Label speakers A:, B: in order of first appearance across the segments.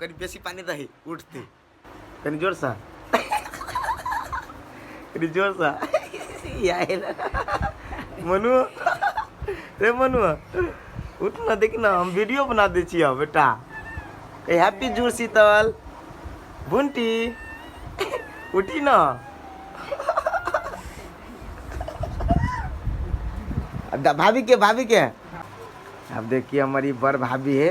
A: कनि बेसी पानी दही उठते कनि जोर सा कनि जोर सा यार मनु रे मनु उठ ना देख ना हम वीडियो बना दे छी अब बेटा ए हैप्पी जूर शीतल बुंटी उठी ना अब दा- भाभी के भाभी के अब देखिए हमारी बड़ भाभी है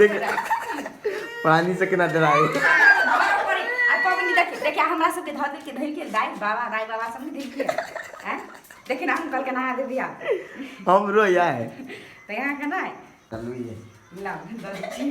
A: देख पानी से केना डराए आ पबनी देख
B: देखिया हमरा सबके धर दे के धर के दाई बाबा दाई बाबा सब धर के हैं देखिन हम कल के नहा दे दिया हम रोया
A: है तो यहाँ के ना
B: चलू ये
A: ला दर्जी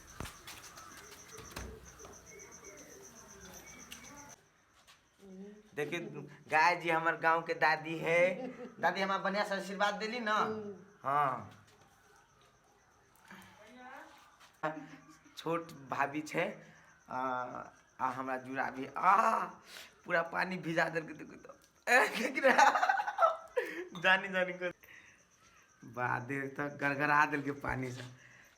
A: देखिए गाय जी हमार गांव के दादी है दादी हमार बढ़िया से आशीर्वाद देली ना हाँ छोट भाभी छै आ, आ हमरा जुड़ा भी आ पूरा पानी भिजा देलकै देखिए तो ए, देख रहा? जानी जानी कर बड़ा देर तक गड़गड़ा देलकै पानिसँ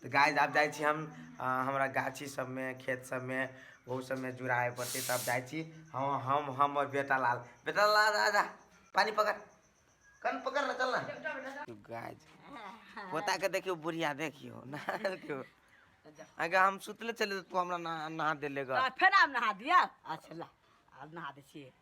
A: तऽ गाय आब जाइ छी हम हमरा गाछी सबमे खेत सबमे ओहू सबमे जुड़ाए पड़तै तब जाइ छी हम हम हमर बेटा लाल बेटा लाल राजा पानि पकड़ कन पकड़ ना चल ना गाय पोता के देखियो बुढ़िया देखियो नहा देखियो अगर हम सुतले चले तू हमरा नहा नहा देले गा फेर आब नहा
C: दिया अच्छा ला आब नहा दै छियै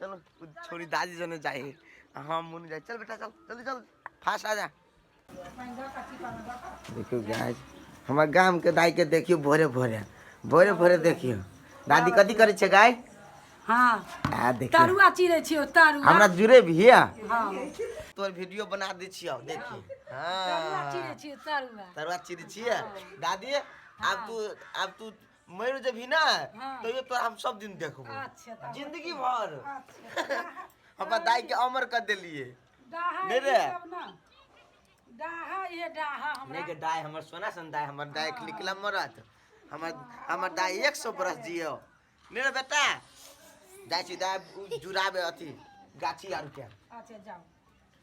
A: चलो छोरी दादी जने जाए हम हाँ, मुन जाए चल बेटा चल जल्दी चल फास्ट आ जा देखियो गाय हमार गांव के दाई के देखियो भोरे भोरे भोरे भोरे देखियो दादी कथी करे छे गाय हां
C: आ देखियो
A: तरुआ चिरे छियो
C: तरुआ हमरा जुरे भी है हां
A: तोर वीडियो
C: बना दे छियो देखियो
A: हां तरुआ चिरे छियो तरुआ तरुआ
C: चिरे
A: छियो दादी अब तू अब तू मरि जेबही ना हाँ। तैयो तोरा हम सब दिन देखबो अच्छा तब जिंदगी
C: भर
A: अच्छा अपन दाई के अमर कर देलिए डाहा नहीं रे। ये सब
C: ना डाहा ये डाहा हमरा नहीं के दाई हमर सोना
A: सन दाई हमर दाई के निकला मरत हमर हमर दाई 100 बरस जियो नहीं रे बेटा दाई छी दाई जुड़ाबे अथी गाछी आर के अच्छा जाओ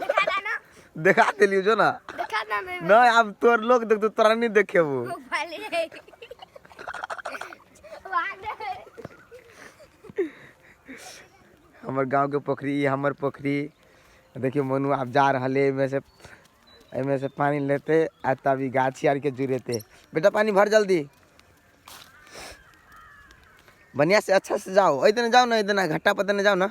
A: देखा दा
D: ना देखा देलियो जो
A: ना देखा दा ना
D: ना अब तोर
A: लोग देख तो तोरा नहीं देखेबू वो पहले वहाँ दे हमर गांव के पोखरी ई हमर पोखरी देखियो मनु आप जा रहले एमे से एमे से पानी लेते आ तब ई गाछी आर के जुरेते बेटा पानी भर जल्दी बढ़िया से अच्छा से जाओ ऐदने जाओ ना ऐदने घट्टा पर देने जाओ ना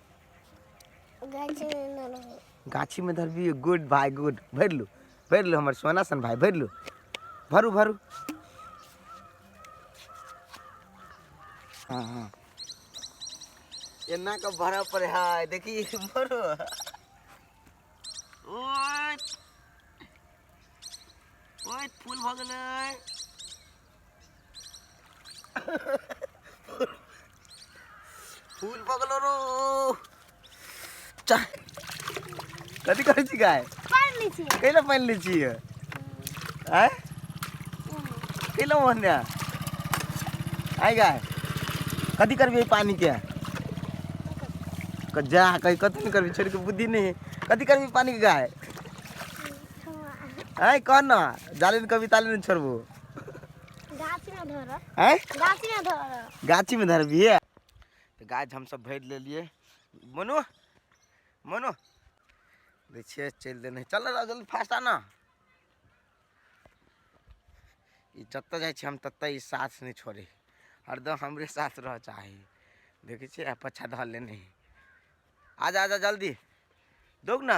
A: गाछीमे धरबियै गुड भाय गुड भरि लू भरि लू हमर सोना सन भाय भरि लू भरू भरू हाँ हाँ एना के भरा पड़े है देखी भरू ओए ओए फूल भऽ गेलै फूल पकलो रो चाय कथी करै छी गाय पानि लै छियै कैला पानि लै छी आय कैला मोहन्या आय गाय कथी करबी पानी के क- जा कहीं कथी नहीं करबी छोड़ के बुद्धि नहीं है कथी करबी पानी के गाय आय कह ना जाले कभी ताले नहीं छोड़बू आँय गाछीमे धरबियै तऽ गाछ हमसभ भरि लेलियै मनो मनो दै छियै चलि देने चल जल्दी फास्ट आ ने ई जतऽ जाइ छी हम ततऽ ई साथ नहि छोड़े हरदम हमरे साथ रह चाही देखै छियै पछा धऽ लेने आजा आजा जल्दी दौग ने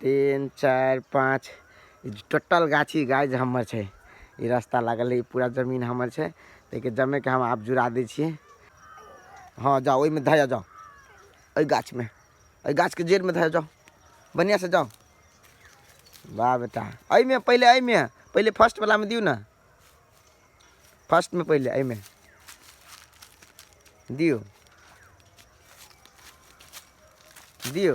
A: तीन चार पाँच टोटल गाछी गाछ हमर छै ई रास्ता लागल ई पूरा जमीन हमर छै ताहिके जमेके हम आब जुड़ा दै छियै हँ जाओ ओहिमे धऽ जाओ एहि गाछमे एहि गाछके जड़िमे धऽ जाओ बढ़िआँसँ जाओ वाह बेटा एहिमे पहिले एहिमे पहिले फर्स्टवलामे दियौ ने फर्स्टमे पहिले एहिमे दियौ दियौ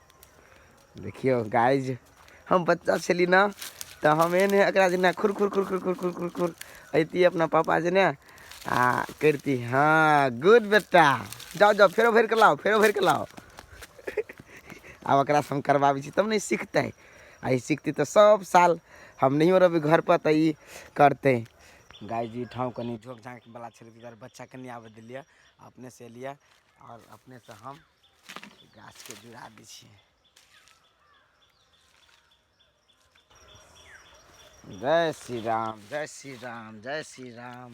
A: देखियौ गाइज हम बच्चा छली ने तऽ हम एहन एकरा जेना खुर खुर खुर खुर खुर खुर खुर खुर अयती अपना पापा जेने आ करती हँ गुड बेटा जाओ जाओ फेरो भरि कऽ लाओ फेरो भरि कऽ लाओ आब एकरा हम करबाबै छी तब ने सीखतै आ ई सीखतै तऽ सब साल हम नहियो रहबै घर पर तऽ ई करतै गाय जी ठाव कनि झोक झाँक बला छलै ताहि दुआरे बच्चा कनि आबऽ देलियै अपने से एलियै आओर अपने से हम गाछ के जुड़ा दै छियै जय श्री राम जय श्री राम जय श्री राम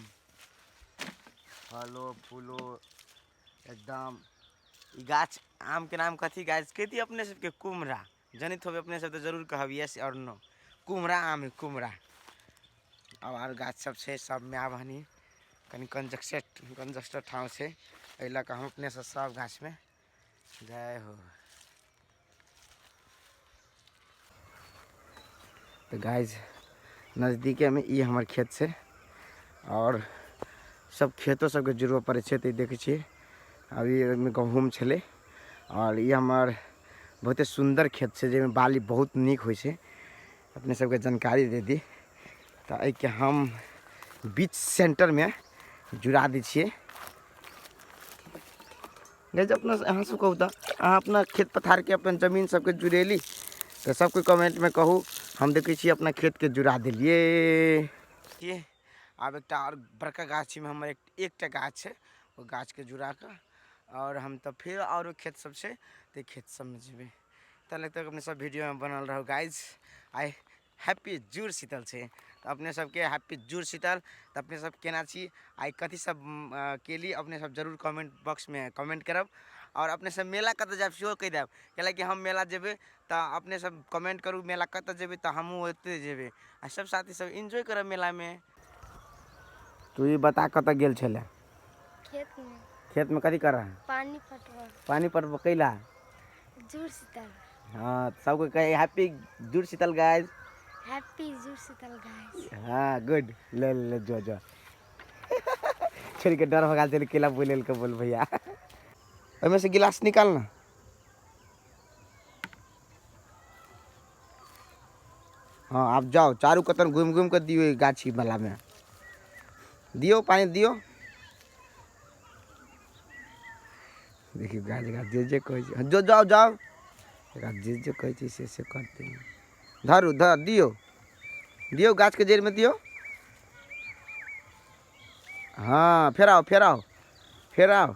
A: फलो फूलो एकदम ई गाछ आम के नाम कथी गाछ कहती अपने सबके कुम्हरा जनैत होबै अपने सब तऽ जरूर कहब यस आओर नो कुम्हरा आम है कुम्हरा अब आर गाछ सब छै सबमे आब हनी कनि कंजस्टेड कंजस्टेड ठाव छै एहि लऽ कऽ हम अपने सब सब गाछमे जय हो तऽ गाइज नजदीकेमे ई हमर खेत छै आओर सब खेतो सबके जुड़बऽ पड़ै छै तऽ ई देखै छियै अभी ओहिमे गहूँम छलै आओर ई हमर बहुते सुन्दर खेत छै जाहिमे बाली बहुत नीक होइ छै अपने सबके जानकारी दे दी तऽ एहिके हम बीच सेंटरमे जुड़ा दै छियै गैज अपना अहाँ सब कहू तऽ अहाँ अपना खेत पथारके अपन जमीन सबके जुड़ेली तऽ सब कोइ कमेंटमे कहू हम देखै छी अपना खेतके जुड़ा देलियै आब एकटा आओर बड़का गाछीमे हमर एकटा गाछ छै ओ गाछके जुड़ा कऽ आओर हम तऽ फेर आओरो खेत सब छै तऽ खेत सबमे जेबै तब तक अपने सब वीडियोमे बनल रहू गाइज आइ हैप्पी जुड़ शीतल छै तऽ अपने सबके हैप्पी जुड़ शीतल तऽ अपने सब केना छी आइ कथी सब केली अपने सब जरूर कमेंट बॉक्समे कमेंट करब आओर अपने सब मेला कतऽ जायब सेहो कहि देब कैलाकि हम मेला जेबै तऽ अपने सब कमेंट करू मेला कतऽ जेबै तऽ हमहूँ ओतऽ जेबै आ सब साथी सब एंजॉय करब मेलामे तू ई बता कतऽ गेल छलै खेत में
D: खेतमे कथी करऽ
A: पानी पटवा
D: पानि पटब कैला
A: जुड़
D: शीतल हँ सबके
A: कहे happy Jur Sheetal guys happy Jur
D: Sheetal guys हाँ गुड
A: ले ले ले जो जो छोड़ के डर भगा चल केला बोले के बोल भैया ओहिमे से गिलास निकाल ना हाँ आप जाओ चारू कतन घूम घूम कर दियो गाछी वाला में दियो पानी दियो देखियो गाछ गाछ जे जे कहे हाँ, जो जाओ जाओ गाछ जे जे कहे से से करते हैं धरू धर दियो दियो गाछ के जड़ में दियो हाँ फेराओ फेराओ फेराओ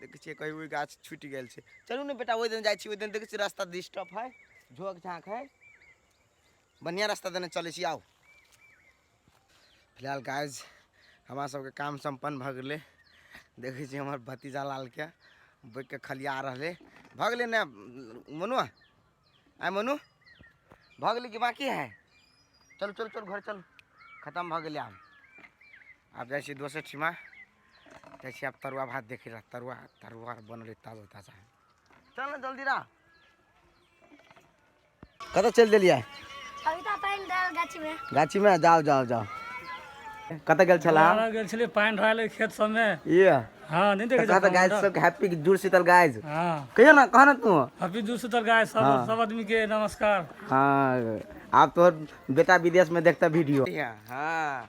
A: देखै छियै कहीं ओहि गाछ छूटि गेल छै चलू ने बेटा ओहि दिन जाइ छी ओहि दिन देखै छियै रास्ता डिस्टर्ब है झोक झाँक है बढ़िआँ रास्ता देने चलै छी आउ फिलहाल गाइज हमरा सबके काम सम्पन्न भऽ गेलै देखै छी हमर भतीजा लालके बैठ के खलिया रहलै भऽ गेलै ने मनु आइ मनु भऽ गेलै कि बाकी है चलू चलू चलू घर चलू खतम भऽ गेलै आब आब जाइ छी दोसर ठिमा जाइ छी आब तरुआ भात देखै लए तरुआ तरुआ बनल ताजा ताजा चल ने जल्दी रा कतऽ चलि देलियै अभी तो
D: पानी डाल गाछी में गाछी में जाओ
A: जाओ जाओ कतऽ गेल छला बाहर गेल छलियै पानि ढाल
E: लए खेत सबमे ये हँ नहीं
A: देखे कतऽ
E: गाइस सब हैप्पी
A: जुड़ शीतल गाइस हाँ कहियो ना कह
E: ना तू
A: अभी दू सुतल गाय
E: सब हाँ। सब आदमी के नमस्कार हाँ
A: आप तो बेटा विदेश में देखता वीडियो हाँ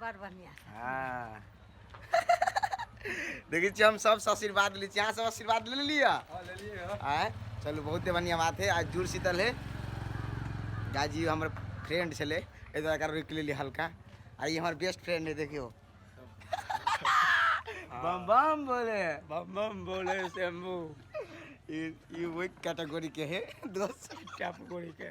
A: बड़ बढ़िया हाँ देखै छियै हम सबसँ आशीर्वाद लै छी अहाँ सब आशीर्वाद ले लेलियै हाँ ले लिए हो आँय चलू बहुते बढ़िआँ बात है आज जुड़ शीतल है गाजी हमर फ्रेंड छलै एहि दुआरे एकरा रोकि लेलियै हल्का आ ई हमर बेस्ट फ्रेंड है देखियौ बम बम बोले बम बम बोले शंभू ई ई ओहि कैटेगरी के है दोस्त टप कोड़ी के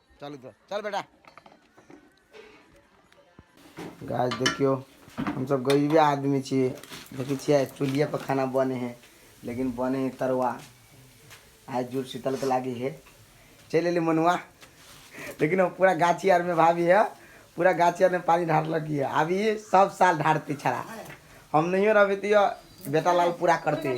A: चल
E: इधर चल बेटा
A: गाछ देखियो हम सब गरीबे आदमी छी देखै छियै चूल्हिए पर खाना बने है लेकिन बने है तरुआ आज जुड़ शीतल के लागी है चल एली मनुआ लेकिन हम पूरा गाछी आर में भाभी है पूरा गाछी आर में पानी ढारलक है अभी सब साल ढारती छड़ा हम नहीं रहबे तो बेटा लाल पूरा करते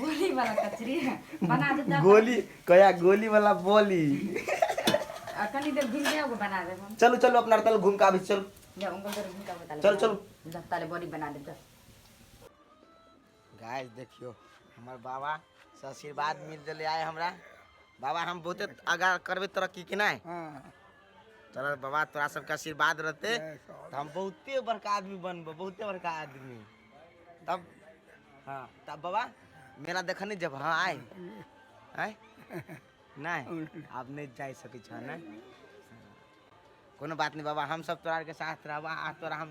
A: गोली वाला
B: कचरी बना दे तब गोली कया
A: गोली वाला बोली आ कनी देर घूम जाओ बना
B: दे हम चलो चलो
A: अपना
B: तल घूम
A: के आबे
B: छी, चलो
A: जा उनको देर घूम का
B: बता चल,
A: चल।
B: जत्ता ले बॉडी बना दे जा
A: गाइस देखियो हमर बाबा से आशीर्वाद मिल देले आए हमरा बाबा हम बहुते आगा करबे तरक्की के नहीं चल बाबा तोरा सबके आशीर्वाद रहते तो हम बहुते बड़का आदमी बनबो बहुते बड़का आदमी तब हाँ तब बाबा मेला देखऽ नहीं जब हाँ आए आए नहीं आप नहीं जा सके छो ना कोनो बात नहीं बाबा हम सब तोरा के साथ रहबा आ तोरा हम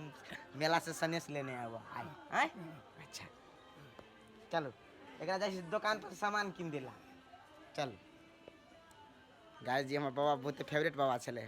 A: मेला से सनेस लेने आबो आए आए अच्छा चलो एकरा जाइ छी दुकान पर सामान किन देला चल गाय जी हमर बाबा बहुत फेवरेट बाबा छलै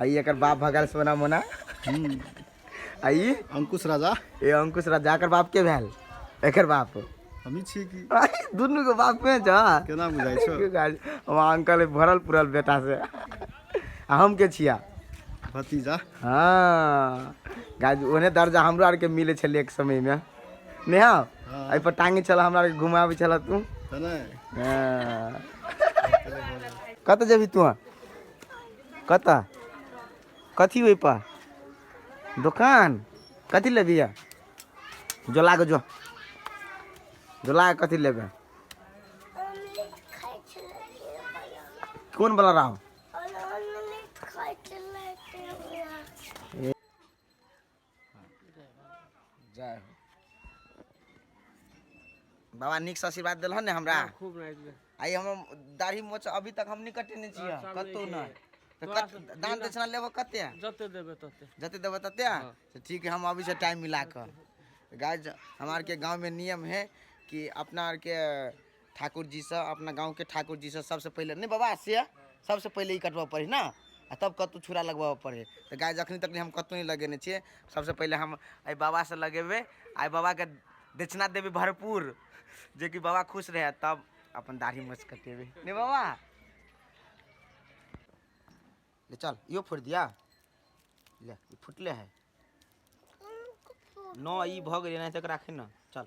A: आई एकर बाप भगल सोना मोना आई अंकुश राजा
F: ए अंकुश राजा
A: एकर बाप के भेल एकर बाप हमी छी की
F: आई दुनू के बाप
A: में जा केना बुझाइ छौ की
F: गाल हम अंकल
A: भरल पुरल बेटा से आ हम के छिया भतीजा
F: हाँ
A: गाज ओने दर्जा हमरो आरके मिले छलै एक समय में नेहा हाँ। एहि पर टांगे छल हमरा आरके घुमाबै छल तू तने हाँ। कतऽ जेबही तू कतऽ कथी ओहिप दोकान कथी लेबही आ जो लाग जो जो लाग कथी लेबै कोन बला रहो जय हो बाबा नीक से आशीर्वाद देलहन ने हमरा खूब नाइस
E: बे आइ हम
A: दाढ़ी मोछ अभी तक हम निकटे नहि छियै अच्छा, कतहु नीके। नहि तऽ तोरा कत- से- दान दक्षिणा लेबो कते
E: जते देबे तते जते देबो
A: तते तऽ ठीक है हम अभी से टाइम मिला कऽ गाय हमरा आरके गाँवमे नियम है कि अपना आरके ठाकुर जी से अपना गाँव के ठाकुर जी से सबसे पहले नहीं बाबा से सबसे पहले ही कटवा पड़े ना आ तब कतू छुरा लगवा पड़े तो गाय जखनी तक हम कतू नहीं लगेने छे सबसे पहले हम आई बाबा से लगेबे आई बाबा के दक्षिणा देवे भरपूर जे कि बाबा खुश रहे तब अपन दाढ़ी मस कटेबे नहीं बाबा ले चल यो फोड़ दिया ले ई फुटले है न ई भग रहे ना तक राखे ना चल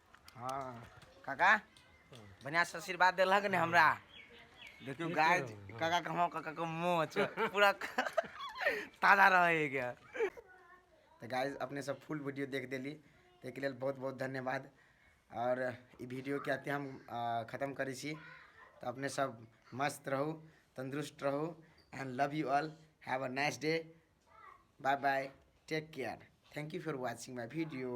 A: हाँ काका बढ़िया से आशीर्वाद देलक ने हमरा देखियो गाय काका के हम काका के मोच पूरा ताजा रहे गया तो गाय अपने सब फुल वीडियो देख देली ताहिके लेल बहुत बहुत धन्यवाद और ई वीडियो के अते हम अ, खत्म करै छी तो अपने सब मस्त रहू तंदुरुस्त रहू and love you all have a nice day bye bye take care thank you for watching my video